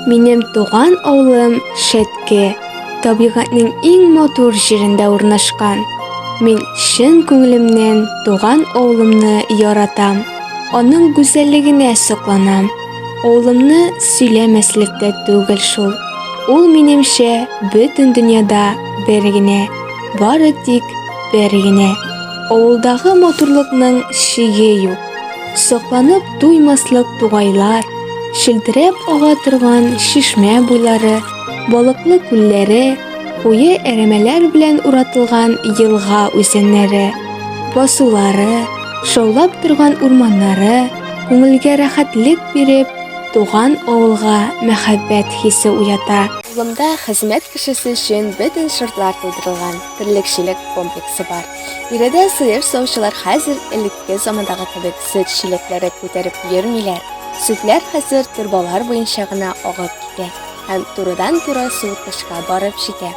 Минем туган авылым Шәтке, табигатьнең иң матур җирендә урнашкан. Мин чын күңелемнән туган авылымны яратам. Аның гүзәллегенә сокланам. Авылымны сөйләмәслек тә түгел шул. Ул минемчә бөтен дөньяда бер генә, бары тик бер генә. Авылдагы матурлыкның чиге юк. Сокланып туймаслык тугайлар, шелтерәп ага торган шишмә буйлары, балыклы күлләре, куе әрәмәләр белән уратылган елга үзәннәре, басулары, шаулап торган урманнары күңелгә рәхәтлек биреп, туган авылга мәхәббәт хисе уята. Авылымда хезмәт кешесе өчен бөтен шартлар тудырылган. терлекчелек комплексы бар. Биредә сыер саучылар хәзер элекке замандагы кебек сөт чиләкләре күтәреп йөрмиләр. Сөтләр хәзер торбалар буенча гына агып китә һәм турыдан-туры суыткычка барып җитә.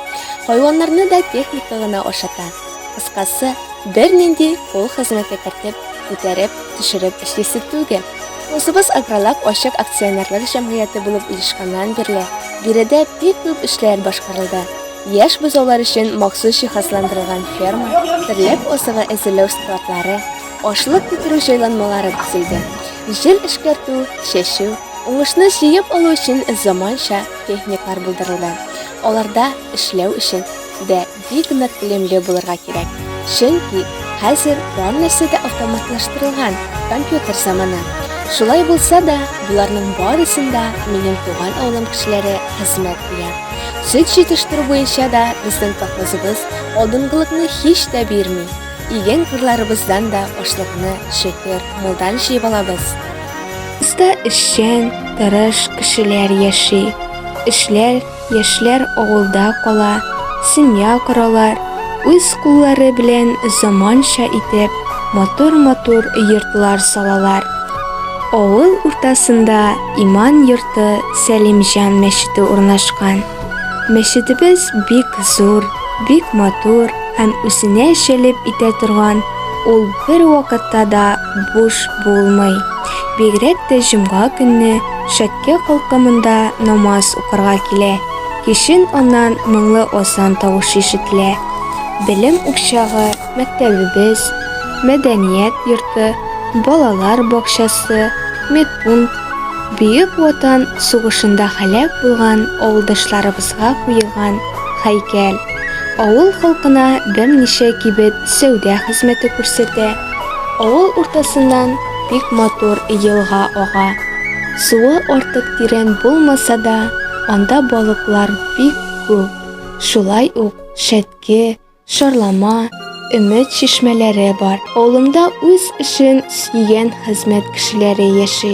Хайваннарны да техника гына ашата. Кыскасы, бернинди кул хезмәте кертеп, күтәреп, төшереп эшлисе түгел. Косыбыз Агролаб ачык акционерлык җәмгыяте булып оешканнан бирле, биредә бик күп эшләр башкарылды. Яшь бозаулар өчен махсус җиһазландырылган ферма, терлек азыгы әзерләү складлары, ашлык бетерү җайланмалары төзелде. Җил эшкәртү, чәчү, уңышны җыеп алу өчен заманча техникалар булдырылды. Аларда эшләү өчен дә бик нык белемле булырга кирәк, чөнки хәзер һәммәсе дә автоматлаштырылган, компьютер заманы. Шулай булса да, боларның барысын да минем туган авылым кешеләре хезмәт куя. Сөт җитештерү буенча да безнең колхозыбыз алдынгылыкны һич тә бирми. Иген кырларыбыздан да ашлыкны, шөкер, мулдан җыеп алабыз. Бездә эшчән, тырыш кешеләр яши. Эшләр, яшьләр авылда кала, семья коралар, үз куллары белән заманча итеп матур-матур йортлар салалар. Авыл уртасында Иман йорты Сәлимҗан мәчете урнашкан. Мәчетебез бик зур, бик матур һәм үзенә җәлеп итә торган, ул бер вакытта да буш булмый. Бигрәк тә җомга көнне шәккә халкы монда намаз укырга килә. Кичен аннан моңлы азан тавышы ишетелә. Белем учагы Мәктәбебез, мәдәният йорты, балалар бакчасы, медпункт, Бөек Ватан сугышында һәлак булган авылдашларыбызга куелган һәйкәл, авыл халкына берничә кибет сәүдә хезмәте күрсәтә. Авыл уртасыннан бик матур елга ага. Суы артык тирән булмаса да, анда балыклар бик күп. Шулай ук Шәтке, Шарлама, өмет чишмәләре бар. Авылымда үз эшен сөйгән хезмәт кешеләре яши.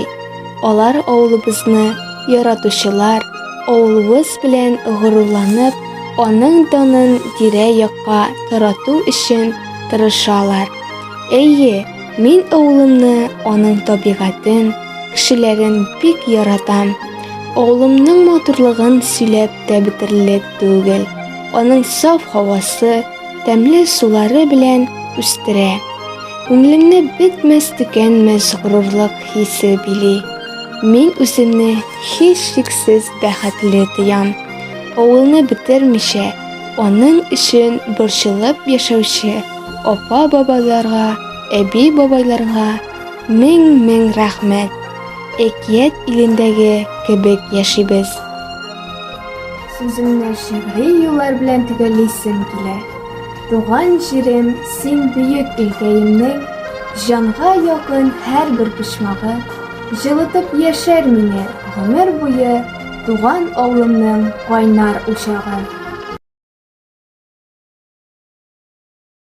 Алар авылыбызны яратучылар, авылыбыз белән горурланып, аның данын тирә-якка тарату өчен тырышалар. Әйе, мин авылымны, аның табигатен, кешеләрен бик яратам. Авылымның матурлыгын сөйләп тә бетерлек. түгел. Аның саф һавасы, тәмле сулары белән үстерә. Күңелемне бетмәс-төкәнмәс горурлык хисе били. Мин үземне һичшиксез бәхетле тоям. Авылны бетермичә, аның өчен борчылып яшәүче апа-бабаларга, әби-бабайларга мең-мең рәхмәт. Әкият илендәге кебек яшибез. Сүземне шигъри юллар белән төгәллисем килә. Туган җирем, син бөек илкәемнең, җанга якын һәр бер почмагы, җылытып яшәр мине гомер буе туган авылымның кайнар учагы.